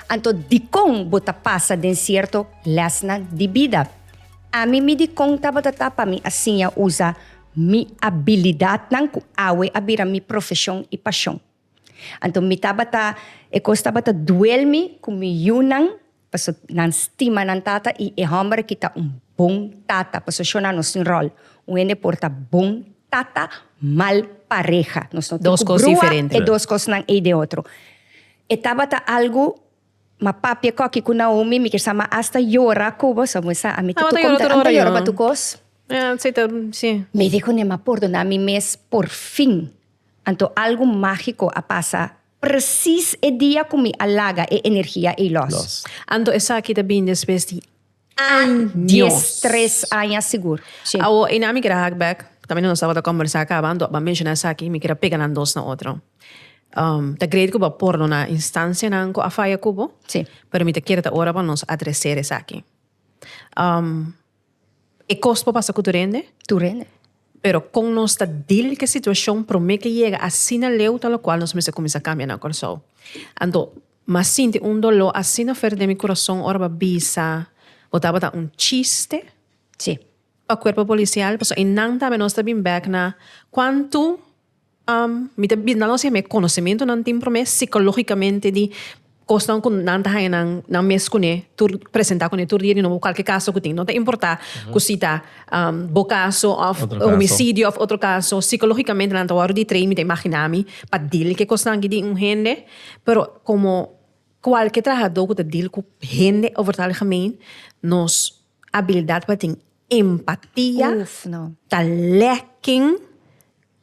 Anto dikon bo ta pasa den sierto lèsnan di bida? Ami mi dikon tabata ta pa mi a siña usa mi abilidatnan ku awe a bira mi profeshon i pashon. Anto mi tabata, e kos tabata duel mi ku mi yunan paso nan stima nan tata i e hòmber aki ta un bon tata. Paso shona nos tin ròl, un hende por ta bon tata, mal pareha. Nos no tin ku brua e dos kosnan ei den otro. E tabata algu ma papia koki ku Naomi, mi kier sa ma asta yora ku bo, so mi sa ami ta tuk om ta anta yora pa tu kos. Mi di kuné ma pordoná mi mes por fin. Anto algu mágiko a pasa presis e dia ku mi a laga e energia ei lòs. Anto esaki ta bini despues di. Dies, tres aña sigur. Shi. Awo e na mi keda hak bek, tambe nos tabata kombersá kaba, anto akba menshoná esaki, mi keda pega nan dos na otro. Ta greet ku bo a pordoná instansianan ku a faya ku bo. Si. Pero mi ta kier ta ora pa nos adreser esaki. E kos por pasa ku tur hende? Tur hende. Pero con nos ta deal cu e situacion prome cu e yega asina leu ta locual nos mester cuminsa cambia na Corsou. Anto m'a sinti un dolor asina fer den mi curason ora b'a bisa bo tabata un chiste. Si, pa cuerpo policial pasobra e nan tambe nos ta bin bek na cuantu. Mi ta bisa nan ocse me conocementonan tin prome psicologicamente di cosnan cu nan ta haña nan, nan mes cune tur presenta cune tur dia di nobo cualke caso cu tin. No ta importa cu si ta bo caso of homicidio of otro caso, psicologicamente nan ta wordo di train, mi ta imagina mi, pa deal cu e cosnan aki di un hende. Pero como cualke trahador cu ta deal cu hende over ta algemeen, nos. Abilidad pa tin empatia ta lacking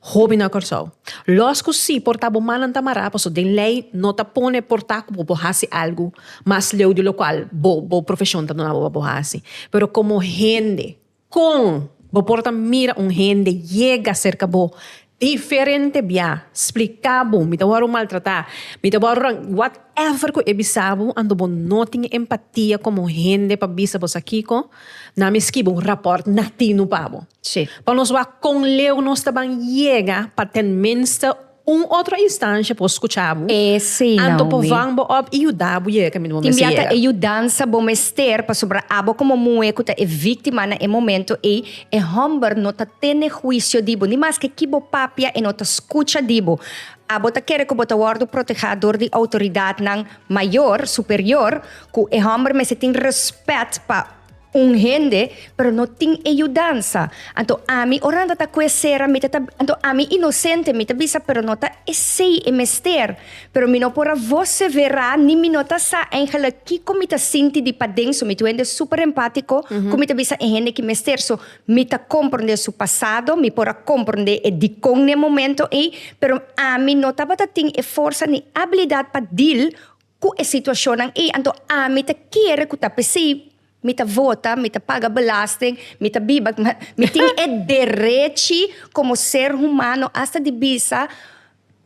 hopi na Kòrsou. Lòs ku si por ta bo mannan ta mará, paso den lei no ta pone por ta ku bo por hasi algu mas leu di lokual bo bo profeshon ta duna bo pa bo hasi. Pero komo hende, kon bo por ta mira un hende yega serka bo Diferente bia. Spliká bo, mi ta wòrdu maltratá. Mi ta wòrdu rang. Whatever ku e bisa bo, anto bo no tin empatia komo hende pa bisa bo sa kiko, nan mi skiba un rapòrt natino pa bo. Sí. Pa nos wak kon leu nos ta ban yega pa ten minste un otro instansha por skuchá bo. Esei, Naomi. Anto por vàn bo op i yuda bo yega kaminda bo mester yega. Tin bia ta e yudansa bo mester, pasobra abo komo muhé ku ta e víktima na e momentu ei, E hòmber no ta tene huisio di bo, ni maske ki bo papia e no ta skucha di bo. Abo ta kere ku bo ta wòrdu protegá dor di outoridatnan mayor, superior, ku e hòmber mester tin rèspèt pa un hende, pero no tin e yudansa. Anto ami, oranta ta ku e sera, mi ta ta, anto ami inosente, mi ta bisa, pero no ta esei e mester. Pero mi no por a voce verá ni mi no ta sa eigenlijk kico mi ta sinti di paden. So mi ta wende super empatico cu mi ta bisa e hende ki mester. So mi ta compronde su pasado, mi por a compronde e dicon n'e momento ey, pero ami no tabata tin e forsa ni abilidad pa deal cu e situacionnan ey. Anto ami ta kere cu ta pesey mi ta vota, mi ta paga belasting, mi ta biba. Mi tin e derechi como ser humano hasta di bisa.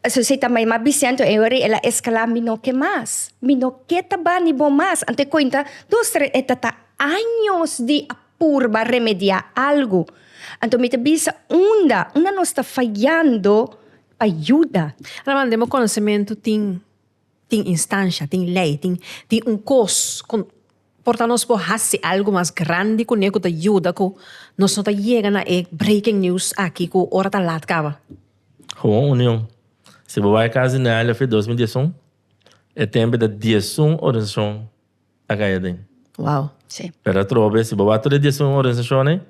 Esun si ta mai ma Biciento e ora el a escala mi no ke mas, mi no ke ta bani bo mas, anto e cuenta dos tres e ta ta años di a purba remedia algo, anto mi ta bisa unda unda nos ta fayando pa yuda. Anormal den bo conocemento tin tin instancia, tin ley, tin tin un cos con. Por ta nos por hasi algu mas grandi kuné ku ta yuda ku nos no ta yega na e breaking news aki ku ora ta lat kaba. Gewoon union. Si bo bai kas di Nealia Fit dos mil diesun, e tempe ta diesun organisashon a kai aden. Wow. Sí. Pero atrobe, si bo bai tur e diesun organisashonnan,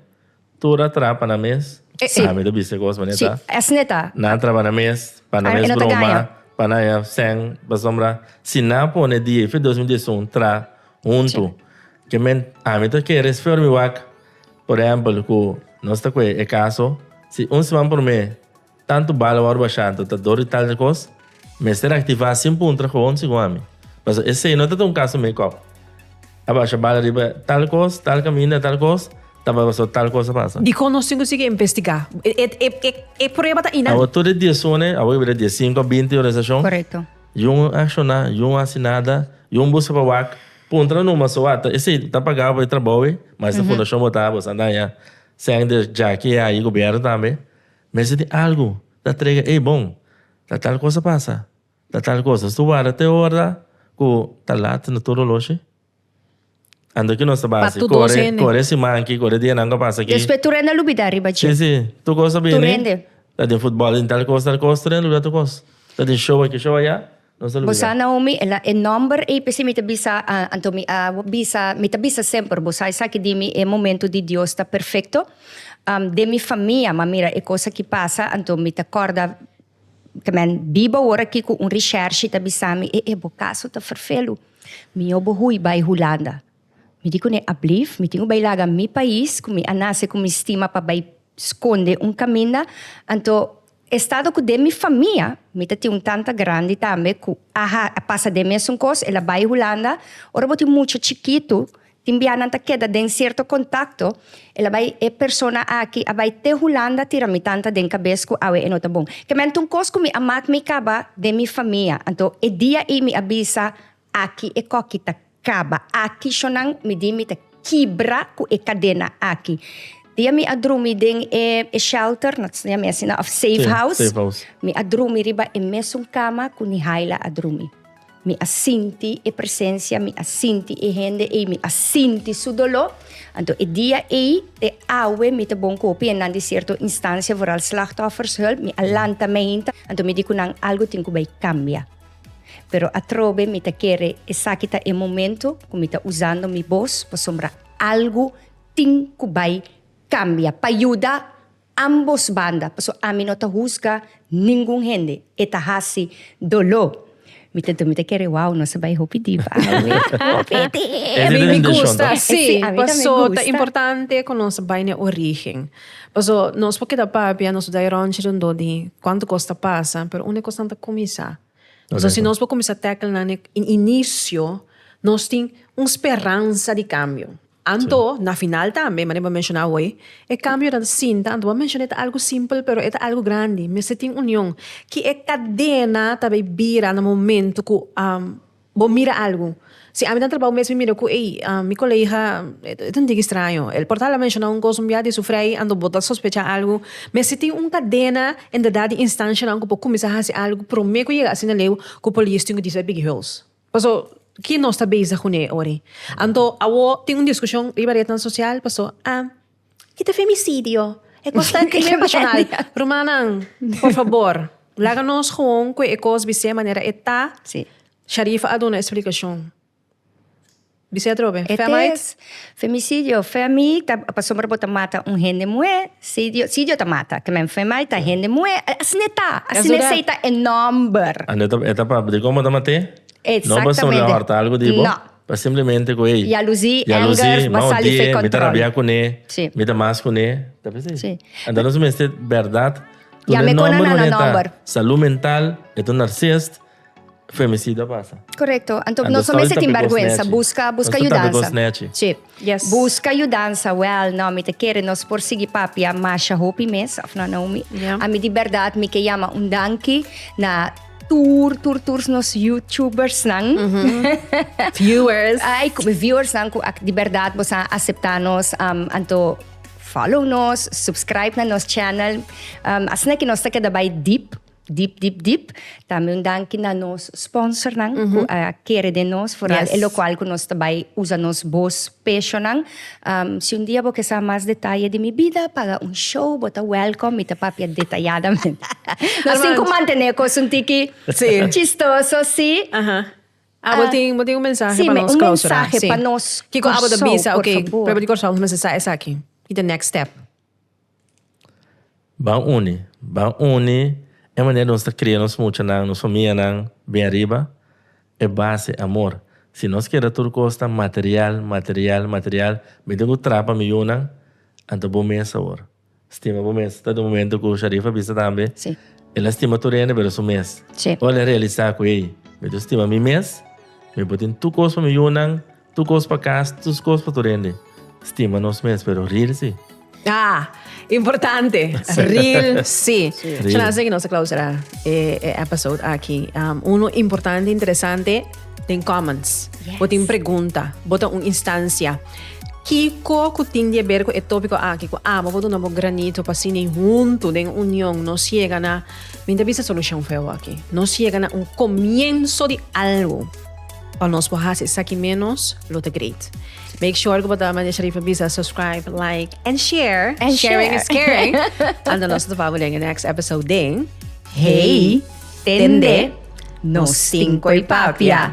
Tur a trapa na mes. Sí. Ami ta bisa e cos manera Sí, ta. esne ta. Nan a trapa na mes pa nan Ai, mes e no ta broma, gaña. pa nan ya sen, pasobra si nan a pone di e fe dos mil dies i un tra huntu, ke men ami ta kere esfer mi wak, por ehempel, ku nos ta kue e kaso, si un siman promé. Tantu bala wòrdu bashá anto ta dor di tal dje kos? Mester aktivá sin puntra kowon segun ami? Pasobra esei no ta ta un kaso make-up. A basha bala riba tal kos, tal kaminda, tal kos, ta bai pasobra tal kos a pasa. Dikon nos tin ku sigui investigá? E prueba ta einan. Awo tur e diezone, awo ke bira diesinko a binti organisashon. Korekto. Yun akshoná, yun hasi nada, yun buska pa wak. Puntra numa so wata, esei ta pagá pa e trabou ei? Mas ta fundashon botá, bo sa daña. Sèn dje djaki ei a yi gobièrnu tambe. Mester tin algu ta trega ey bon ta tal cosa pasa ta tal cosa su warda te horda cu ta lat na tur oloshi ando ki nos ta bay asi core core siman aki core dia nan cu a pasa aki despues tur hende a lubida riba dje si si tur cos ta bini ta den futbal ta den tal cos tal cos tur hende a lubida tur cos ta den show aki show aya. Bo sa Naomi, el a e number ei p'esei mi ta bisa anto mi a bisa, mi ta bisa semper bo sa esaki di mi e momento di Dios ta perfecto den mi famia, ma mira e cos aki pasa anto mi ta corda ta men biba awor aki cu un Richershi ta bisami e e bo caso ta ferfelu mi yo bo hui bay Hulanda, mi di cune ablief mi tin cu bay laga mi pais cu mi a nace cu mi stima pa bay sconde un caminda anto E stado ku den mi famia, mi ta tin un tanta grandi tambe ku a pasa den mesun kos, el a bai Hulanda, ora bo tin mucha chikitu, tin biaha nan ta keda den sierto kontakto, el a bai, e persona aki a bai te Hulanda tira mi tanta den kabes ku awe e no ta bon. Kementi un kos ku mi a mak mi kaba den mi famia, anto e dia ei mi a bisa, Aki e koki ta kaba. Aki shonan mi di mi ta kibra ku e kadena aki. Dia mi a drumi den e shelter, no ta siña mi asina, òf safe house. Mi a drumi riba e mesun kama ku Nihaila a drumi. Mi a sinti e presensia, mi a sinti e hende ei, mi a sinti su doló. Anto e dia ei, te awe mi ta bon kopi e nan di sierto instansia, vooral Slachtoffershulp, mi a lanta meinta. Anto mi di ku nan algu tin ku bai kambia. Pero atrobe mi ta kere esaki ta e momento ku mi ta usando mi bos pasobra algu tin ku bai kambia pa yuda ambos banda paso ami no ta husga ningun hende e ta hasi doló mi ta mi ta kere wou nos a bai hopi diba awe hopi diba. Mi gusta si paso ta importante ku nos bai na e origen. Paso nos por keda papia nos dai ronchi rondó di cuanto cos ta pasa pero unda e cosnan ta cuminsa paso si nos por cuminsa tackle nan e inicio nos tin un speransa di cambio anto na final tambe manera bo a menciona awoy e cambio nan sinta anto bo a menciona ta algo simpel pero e ta algo grandi mester tin union ki e cadena ta bay bira na momento cu a Bo mira algu. Si ami ta trabao mes mi mira cu ey, mi colega, e ta un tiki straño. El por ta la menciona un cos un bia di su frei anto bo ta sospecha algu. Mes si tin un cadena en verdad di instancianan cu por cuminsa haci algu prome cu yega asina leu cu polis tin cu disa e bigihouse. Paso, ki nos ta bezig cu ne ora ey? Anto, awor tin un discusion riba retnan social, paso, a. I ta femicidio. E cos ta crimen pasional. Rumannan, por fabor, laga nos gewoon cu e cos bisé manera e ta. Sí. Sharif a duna explicacion. Bisé atrobe. E Femites. tes femicidio. Femi ta pasobra bo ta mata un hende muhé. Cidio, cidio ta mata. Te men femite ta hende muhé. Asina ta. Asina Esou dat. esei ta e nomber. Ande ta, e ta papia. Di como ta maté? No pasobra Exactamente. horta algo di bo? No. Pa simplemente cu ey. Jaluzi, anger, basali fe control. Mi ta rabia cu ne. Si. Mi ta mas cu ne. Ta p'e si. Si. Enta nos mester berdad. Ya me cona na na nomber. Salud mental, e ta un narcist. Femicidio a pasa. Correcto. Anto nos no mester tin berguensa. Busca, busca yudansa. Nos ta tap'e cos nechi. Si. Yes. Busca yudansa wel no mi ta kere nos por sigui papia masha hopi mes of no Naomi. Yeah. A mi di berdad mi ke yama un danki na tur tur tur nos youtubers nan. Viewers. Ay, ku- viewers nan ku ak- di berdad bo sa acepta nos um, anto follow nos, subscribe na nos channel. Um, asina ke nos ta keda bai deep Dip dip dip. Tambe un danki na nos sponsornan ku a kere den nos for al e lokual ku nos ta bai usa nos bos peshonnan. Si un dia bo ke sa mas detaye di mi bida para un show bo ta wèlkom mi ta papia detayadamente. Nos tin ku mantené e kos un tiki chistoso si. Abo tin bo tin un mensahe pa nos klousura? Si un mensahe pa nos Kiko abo ta bisa, oke Pueblo di Kòrsou nos mester sa esaki. Kita next step? Ban uni. Ban uni e manera nos ta kria nos muchanan, nos famianan bin ariba. E base e amor. Si nos keda tur kos ta material, material, material, mi tin ku trapa mi yunan, anto bo mes awor stima bo mes. Ta den un momento ku Sharifa a bisa tambe, el a stima tur hende pero su mes. Ora el a realisa ku ey, mi dor stima mi mes, mi por tin tur kos pa mi yunan, Tu kos pa kas, tus kos pa tu rende. Stima nos mes, pero ril si. Ah, importante. Ril si. Ril. Chana que nos clausura eh, eh, episode aki. Um, uno importante, interesante, den comments. Yes. Bota un pregunta, bota un instancia. Kiko ku tin die berko e tópiko aki ku amo bodo na bo granito pa sini junto den union no siega na minta bisa solution feo aki. No siega na un comienzo di algo. Pa nos por haci esaki menos lo ta great. Make sure que bota manja sheriff bisa subscribe, like and share. And Sharing share. is caring. Anda nos te vamos in the next episode ding. Hey, tende, no stinko y papia.